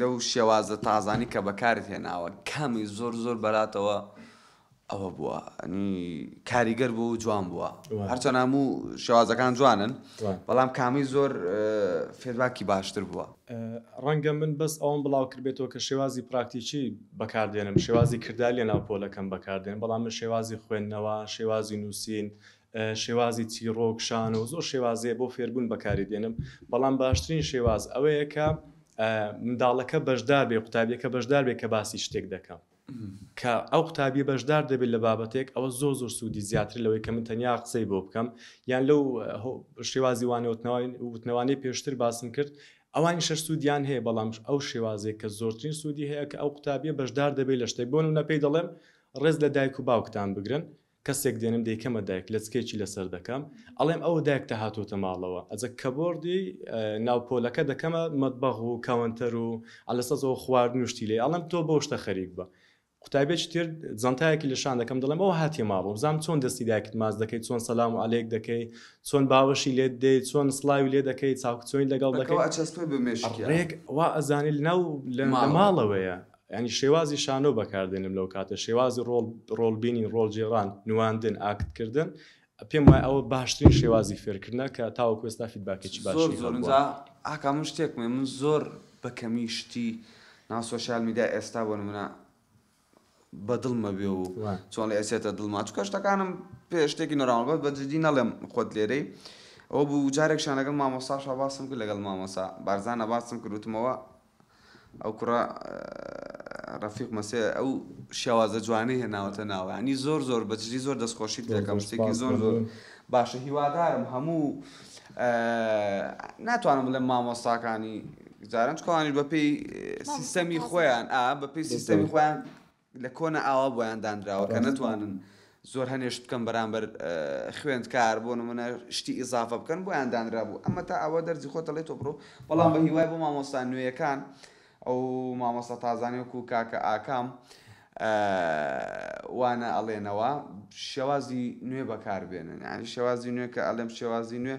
لەو شێوازە تازانەی کە بەکارت هێناوە کامی زۆر زۆر بەلاتەوە ئەوە بووە ئەنی کاریگەر بوو و جوان بووە هەرچەند هەموو شێوازەکان جوانن بەڵام کامی زۆر فێرباکی باشتر بووە ڕەنگە من بەس ئەوم بڵاو کردبێتەوە کە شێوازی پراکتیکی بەکاردێنم شێوازی کردار لە ناو پۆلەکەم بەکاردێن بەڵام من شێوازی خوێندنەوە شێوازی نووسین شێوازی چیڕۆک، شانۆ و زۆر شێواز هەیە بۆ فێربوون بەکاری دێنم، بەڵام باشترین شێواز ئەوەیە کە منداڵەکە بەشدار بێ قوتابیەکە بەشدار بێ کە باسی شتێک دەکەم. کە ئەو قوتابیە بەشدار دەبێت لە بابەتێک ئەوە زۆ زۆر سوودی زیاتر لەوەی کە من تەنیا قسەی بۆ بکەم یان لەو شێوازی وانەوتنەوەین وتنەوانی پێشتر باسم کرد ئەوانی شەر سوودیان هەیە بەڵام ئەو شێوازێک کە زۆرترین سوودی هەیە کە ئەو قوتابیە بەشدار دەبێت لە شتێک بۆن و نەپی دەڵێم ڕێز لە دایک و باوکتان بگرن کەسێک دێنم دەیکەمە دایک لەچکێکی لەسەر دەکەم ئەڵێم ئەوە دایکتە هاتۆتە ماڵەوە ئەجە کەبۆردی ناو پۆلەکە دەکەمە مەتبەغ و کەوەنتەر و ئەلەسەزەوە خواردن و شتی لێ ئەڵێم تۆ بەو شتە خەریک بە قوتابێکی تر جەنتایەکی لە شان دەکەم دەڵێم ئەوە هاتیە ماڵەوە بزانم چۆن دەستی دایکت ماچ دەکەی چۆن سەلام و عەلێک دەکەی چۆن باوەشی لێت دێی چۆن سڵاوی لێ دەکەی چاوکچۆنی لەگەڵ دەکەی ڕێک وا ئەزانێ لەناو لە ماڵەوەیە یانی شێوازی شانۆ بەکاردێنم لەو کاتە شێوازی ڕۆڵ ڕۆڵ بینین ڕۆڵ گێڕان نواندن ئاکت کردن پێم وای ئەوە باشترین شێوازی فێرکردنە کە تاوەکو ئێستا فیدباکێکی باشی زۆر زۆر هەبووە. ئینجا ئاکام من شتێک مێ من زۆر بە کەمی شتی ناو سۆشیال میدیا ئێستا بۆ نمونە بە دڵمە بێ و وە. چۆن لە ئەچێتە دڵما چونکە شتەکانم پێ شتێکی نۆراماڵ بەس بە جدی نەڵێم خۆت لێرەی ئەوە بوو جارێکشیان لەگەڵ مامۆستا شا باسم کرد لەگەڵ مامۆسا بارزانە باسم کرد وتمەوە ئەو کوڕە ڕەفیق مەسێ ئەو شێوازە جوانەی هێناوەتە ناوە ینی زۆر زۆر بەجدی زۆر دەستخۆشیت دەکەم شتێکی زۆر زۆر باشە هیوادارم هەموو ناتوانم بڵێم مامۆستاکانی جاران چکوانیش بەپی سیستەمی خۆیان ئا بەپی سیستەمی خۆیان لە کۆنە ئاوا بۆیان دانراوە کە نەتوانن زۆر هەنێشت بکەن بەرامبەر خوێندکار بۆ نمونە شتی ئیزافە بکەن بۆیان دانرا بوو ئەمە تا ئەوە دەرزی خۆ دەڵێت تۆ بڕۆ بەڵام بە هیوای بۆ مامۆستا نوێیەکان ئەو مامۆستا تازانانی وەکو کاکە ئاکام وانە ئەڵێنەوە شێوازی نوێ بەکاربێنن ینی شێوازی نوێ کە ئەلم شێوازی نوێ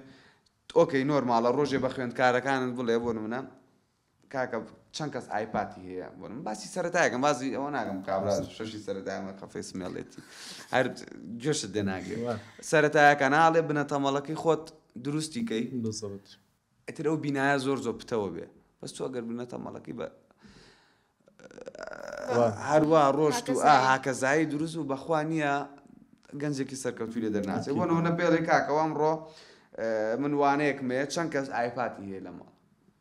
ئۆکەی نۆرماڵە ڕۆژێ بە خوێندکارەکانت بڵێ بۆ نمونە کاکە چەند کەس ئایپاتی هەیە بۆ من باسی سەرەتایەکەم بازی ئەوە ناگەم کابراز شەشی سەرەتایمە کەفەی سمێڵێتی هەر گوێشت دێ ناگرێ سەرەتایەکە ناڵێ بنە تەمەڵەکەی خۆت دروستی کەی ئەتر ئەو بینایە زۆر زۆر پتەوە بێ بەس تۆ ئەگەر بنە تەمەڵەکەی بە هەروە ڕۆشت و هاکەزایی دروست و بەخوا نییە گەنجێکی سەرکەوتوی لە دەرناچێت بۆ نەوە نە پێڵێ کاکەوەم ڕۆ من وانەیەکمەیە چەند کەس ئایپاتی هەیە لەمەڵ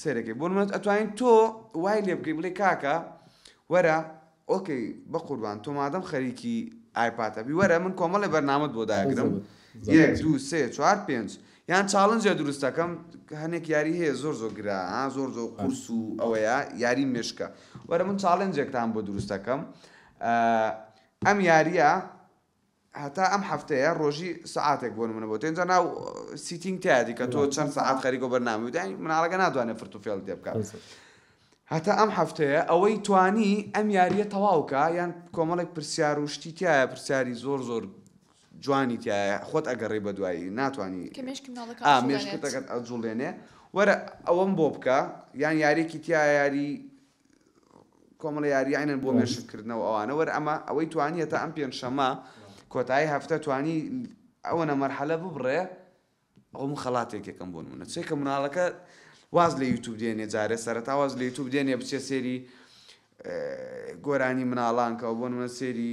سێرەکەی بۆ منت ئەتوانین تۆ وای لێ بکەی بڵێ کاکە وەرە ئۆکەی بە قوربان تۆ مادەم خەریکی ئایپاتە بی وەرە من کۆمەڵی بەرنامەت بۆ داگرم یەک دوو سێ چوار پێنج یان چاڵنجە دروستەکەم هەنێک یاری هەیە زۆر زۆر گرا زۆر زۆر قورس و ئەوەیە یاری مشکە وەرە من چاڵنجێکتان بۆ دروستەکەم ئەم یاریە هەتا ئەم هەفتەیە ڕۆژی سەعاتێک بۆ نمونە بۆتە ئینجا ناو سیتینگ تایەتی کە تۆ چەند سەعات خەریکۆ بەرنامە بداین مناڵەکە ناتوانێت فرت و فێڵ تێ بکات هەتا ئەم هەفتەیە ئەوەی توانی ئەم یاریە تەواوکە یان کۆمەڵێک پرسیار و شتی تایە پرسیاری زۆر زۆر جوانی تایە خۆت ئەگەڕی بە دوایی ناتوانانی مێشکتەکەت ئەجوڵێنێ وەرە ئەوەم بۆ بکە یان یاریێکی تیا یاری کۆمەڵە یارییانن بۆ مێشککردنەوە ئەوانە وەر ئەمە ئەوەی توانیە تا ئەم پێنجشەمە کۆتایی هەفتە توانی ئەوەنە مەرحەلە ببڕێ ئەوم خەڵاتێک یەکەم بۆ منە چێکە مناڵەکە واز لە یوتوب دێنێ جارێ سەرەتا واز لە یوتوب دێنێ بچێ سێری گۆرانی مناڵانکەەوە بۆ منە سێری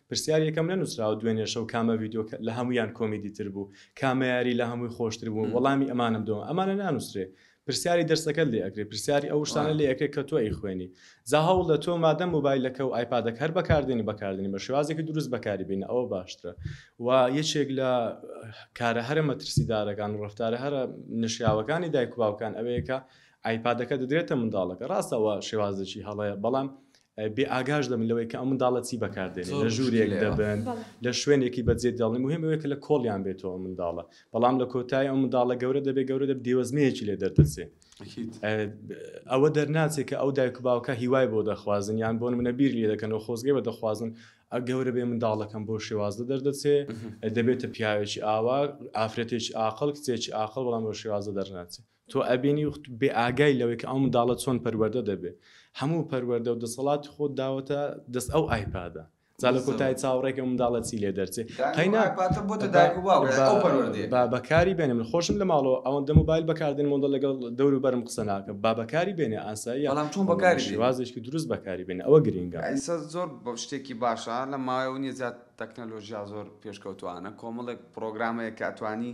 پرسیار یەکەم نەنوسراو دوێنێ شەو کامە ڤیدیۆ لە هەموویان کۆمیدی تر بوو کامە یاری لە هەمووی خۆشتر بوو وەڵامی ئەمانەم دۆ ئەمانە نانووسرێ پرسیاری دەرسەکەت لێ ئەکرێ پرسیاری ئەو شتانە لێ ئەکرێ کە تۆ ئەی خوێنی جا هەوڵ دە تۆ مادەم موبایلەکە و ئایپادەکە هەر بەکاردێنی بەکاردێنی بە شێوازێکی دروست بەکاری بینە ئەوە باشترە و یەکێک لە کارە هەرە مەترسیدارەکان و ڕفتارە هەرە نشیاوەکانی دایک و باوکان ئەوەیەکە ئایپادەکە دەدرێتە منداڵەکە ڕاستەوە شێوازێکی هەڵەیە بەڵام بێ ئاگاش دەبن لەوەی کە ئەو منداڵە چی بەکار دێنێ لە ژوورێک دەبن لە شوێنێکی بەجێ دەڵێن مهم ئەوەیە کە لە کۆڵیان بێتەوە منداڵە بەڵام لە کۆتای ئەو منداڵە گەورە دەبێ گەورە دەب دێوەزمەیەکی لێ دەردەچێ ئەوە دەرناچێت کە ئەو دایک و باوکە هیوای بۆ دەخوازن یان بۆن منە بیر لێ دەکەن و خۆزگەی بە دەخوازن ئە گەورە بێ منداڵەکەم بۆ شێوازدە دەردەچێ دەبێتە پیاوێکی ئاوا ئافرەتێکی ئاقل کچێکی ئاقل بەڵام بۆ شێوازە دەرناچێت تۆ ئەبینی و بێ ئاگای لەوەی کە ئەو منداڵە چۆن پەروەردە دەبێ هەموو پەروەردە و دەسەڵاتی خۆت داوەتە دەست ئەو ئایپادە جا لە کۆتای چاوەڕێکە ئەو منداڵە چی لێ دەرچێ قەینا پاتە بۆتە دایک و باوک با ئەو پەروەردەیە با بەکاری بێنێ من خۆشم لە ماڵەوە ئەوەندە موبایل بەکار دێنم ئەوەندە لەگەڵ دەور و بەرم قسە ناکەم با بەکاری بێنێ ئاساییە بەڵام چۆن بەڵام بەکاری بێنێ؟ شێوازێکی دروست بەکاری بێنێ ئەوە گرینگە. ئیستا زۆر بە شتێکی باشە لە ماوەی ئەوە نیە زیاد تەکنەلۆژیا زۆر پێشکەوتوانە کۆمەڵێک پڕۆگرام هەیە کە ئەتوانی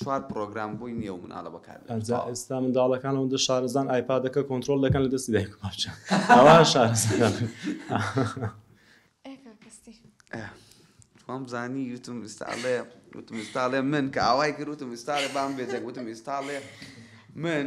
چوار پڕۆگرام بۆی نیە و مناڵە بەکار بێنێت ئەجا تەواو. ئێستا منداڵەکان ئەوەندە شارەزان ئایپادەکە کۆنتڕۆڵ دەکەن لە دەستی دایک و باوکیان ئەوا شارەزان. ئێ کاکە ستیڤ. ئێ وام زانی وتم ئیستا ئەڵێ وتم ئیستا ئەڵێ من کە ئاوای کرد وتم ئیستا ئەڵێ بام بێ دەنگ وتم ئیستا ئەڵێ من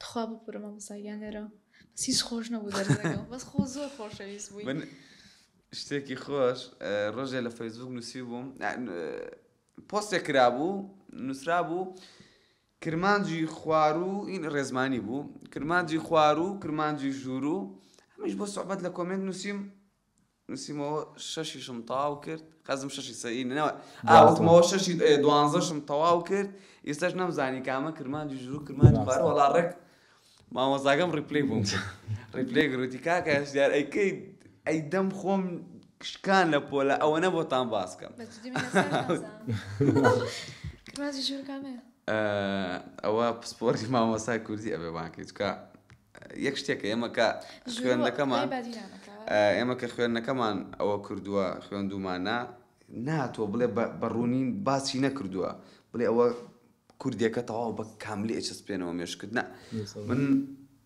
تخوا ببورە مامۆستا گیان لێرە بەس هیچ خۆش نەبوو دەرزەکە بەس خۆ زۆر خۆشەویست بووی من شتێکی خۆش اه، ڕۆژێ لە فەیسبوک نووسی بووم اه، ن- اه، پۆستێک کرابوو نووسرا بوو کرمانجی خوارو این ڕێزمانی بوو کرمانجی خوارو کرمانجی ژوورو هەمیش بۆ سوعبەت لە کۆمێنت نووسیم نوسیمەوە شەشیشم تەواو کرد خەزم شەشی سەری نەوە ئاوتمەوە شەشی دوانزەشم تەواو کرد ئێستاش نەمزانی کامە کرمانجی ژوو کرمانجی خوار وەڵا ڕێک مامۆزاگەم ڕیپلی بووم ڕیپلی گروتی کاکە هەشدار ئەیکەی ئەی دەم خۆم کشکان لە پۆلە ئەوە نە بۆتان باسکەم ئەوە پسپۆری مامۆسای کوردی ئەبێ بانکەی چکە یەک شتێک کە ئێمە کە خوێندەکەمان ئێمە کە خوێندنەکەمان ئەوە کردووە خوێندومانە ناتۆ بڵێ بە ڕوونین باچی نەکردووە بڵێ ئەوە کوردێکە تەواو بە کاملی ئەچس پێێنەوە مێشکردنا من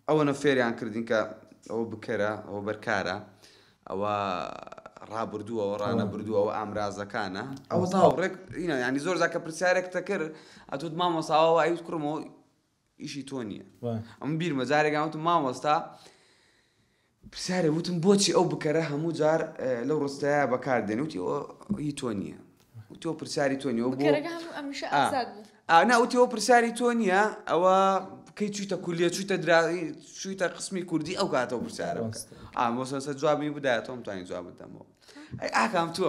ئەوە نە فێریان کردین کە ئەوە بکەرە ئەوە بەرکارە ئەوە ڕابردووە ئەوە ڕانە بردووە ئەوە ئامرازەکانە ئەوە تاوڕێک ینی زۆر زاکە پرسیارێک تەکرد ئەتوت مامۆساوە ئەوت کوڕمەوە ئیشی تۆ نییە ئەم بیرمە جارێکان وتم مامۆستا پرسیارێ وتم بۆچی ئەو بکەرە هەموو جار لەو ڕستەیە بەکار دێن وتی هی تۆ نییە تۆ پرسیاری تۆ نیەوە ناوتی ئەو پرسیاری تۆ نییە ئەوە کەی چویتە کولیە چویتە دراوی چویتە قسمی کوردی ئەو کاتەوە پرسیارە ئامۆسەسە جوابی بدایەتەوەم توانین جواب بدەمەوە ئەی ئاکام تۆ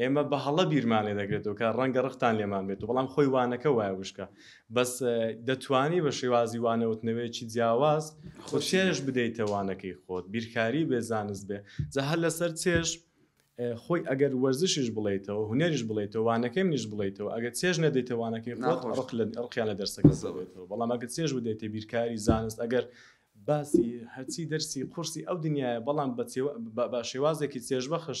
ئێمە بە هەڵە بیرمان لێ دەکرێتەوە کە ڕەنگە ڕقتان لێمان بێت و بەڵام خۆی وانەکە وایە وشکە بەس دەتوانی بە شێوازی وانەوتنەوەیەکی جیاواز خۆ چێژ بدەیتە وانەکەی خۆت بیرکاری بێ زانست بێ جا هەر لەسەر چێژ خۆی ئەگەر وەرزشیش بڵیتەوە هوەریش بڵیتەوە وانەکەی منیش بڵیتەوە ئەگە چێژ نەدەیتەوانەکەی ڕقیان لە دەرسەکە زەبێتەوە بەڵام ئەگە چێژ بدەیتە بیرکاری زانست ئەگەر باسی هەرچی دەرسی قورسی ئەو دنیاە بەڵام بە شێوازێکی چێژبەخش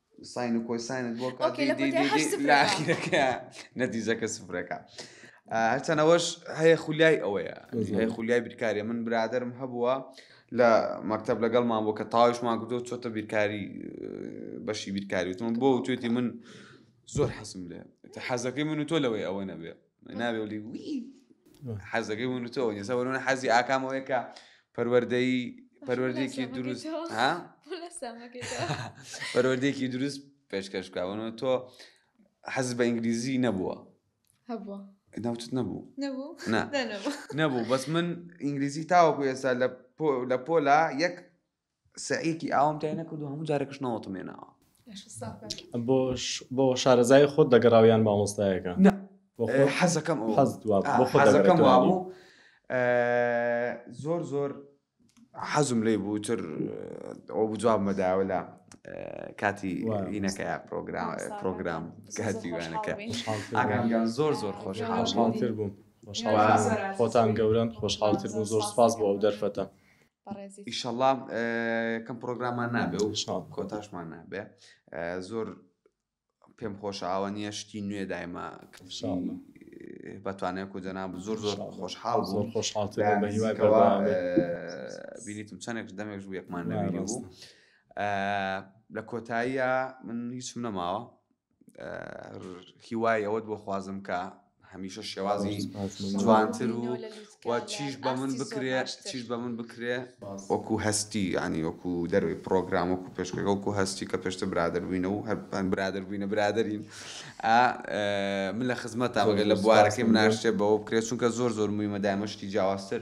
ساین و کۆساینت بۆ ئۆکەی لە کۆتای هەشت سفرەکە. لە ئاخیرەکە نەتیجەکە سفرەکە هەرچەنەوەش هەیە خولیای ئەوەیە هەیە خولیای بیرکاریە من برادرم هەبووە لە مەکتب لەگەڵمان بۆ کە تاوشمان کردو چۆتە بیرکاری بەشی بیرکاری وتم بۆ توێتی من زۆر حەسم لێ حەزەکەی من و تۆ لەوەی ئەوە نەبێ ناوێڵی وی حەزەکەی من تۆ ئێستا وەرونە حەزی ئاکامەوەی کە پەروەردەی پەروەردێکی دروست ها پەروەردێکی دروست پێشکەش بکەونەوە تۆ حەز بە ئینگلیزی نەبووە هەبووە ناوچت نەبوو نەبوو نەبوو بەس من ئینگلیزی تاوەکو ئێستا لە لە پۆلا یەک سەعیەکی ئاوام تای نەکردو هەموو جارێکش نەوەتم هێناوە. بۆ شارەزایی خۆت دەگەڕاو یان مامۆستایەکە؟ نا حەزەکەم ئەوە بوو حەزەکەم وابوو زۆر زۆر حەزم لێی بوو تر ئەو بوو جوابمە داوە لە کاتی وینەکە پرۆگرام پرۆگرام کاتی وانەکە ئاگانگان زۆر زۆر خۆش حاڵتر بووم خۆتان گەورن خۆشحاڵتر بوو زۆر سپاس بۆ ئەو دەرفەتە بەڕێزیت. ئیشەڵا کەم پرۆگرامان نابێ و کۆتاشمان نابێ زۆر پێم خۆش ئاوە نییە شتی نوێ دایمە بەتوانێت و جەناب زۆر زۆر خۆشحاڵ زۆر خۆشحاڵ بینیتم چەندێک دەمێک و یەکمان نەویری بوو لە کۆتاییە من هیچم نەماوە هیوای ئەوەت بۆ خوازم کە هەمیشە شێوازی جوانتر و چیش بە من بکرێ چیش بە من بکرێ وەکو هەستی ینی وەکو دەروی پرۆگرام وەکو پێشکەکە وەکو هەستی کە پێشتە برادربووینە و هەر برادر بووینە برادرین من لە خزمەت تاگە لە بوارەکەی مناشتێ بەوە بکرێت چونکە زۆر زۆر مویمە دامەشتی جیاوازتر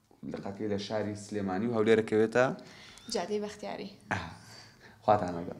لقەکەی لە شاری سلێمانی و هەولێر دەکەوێتە جادەی بەختیاری خواتان لەگەڵ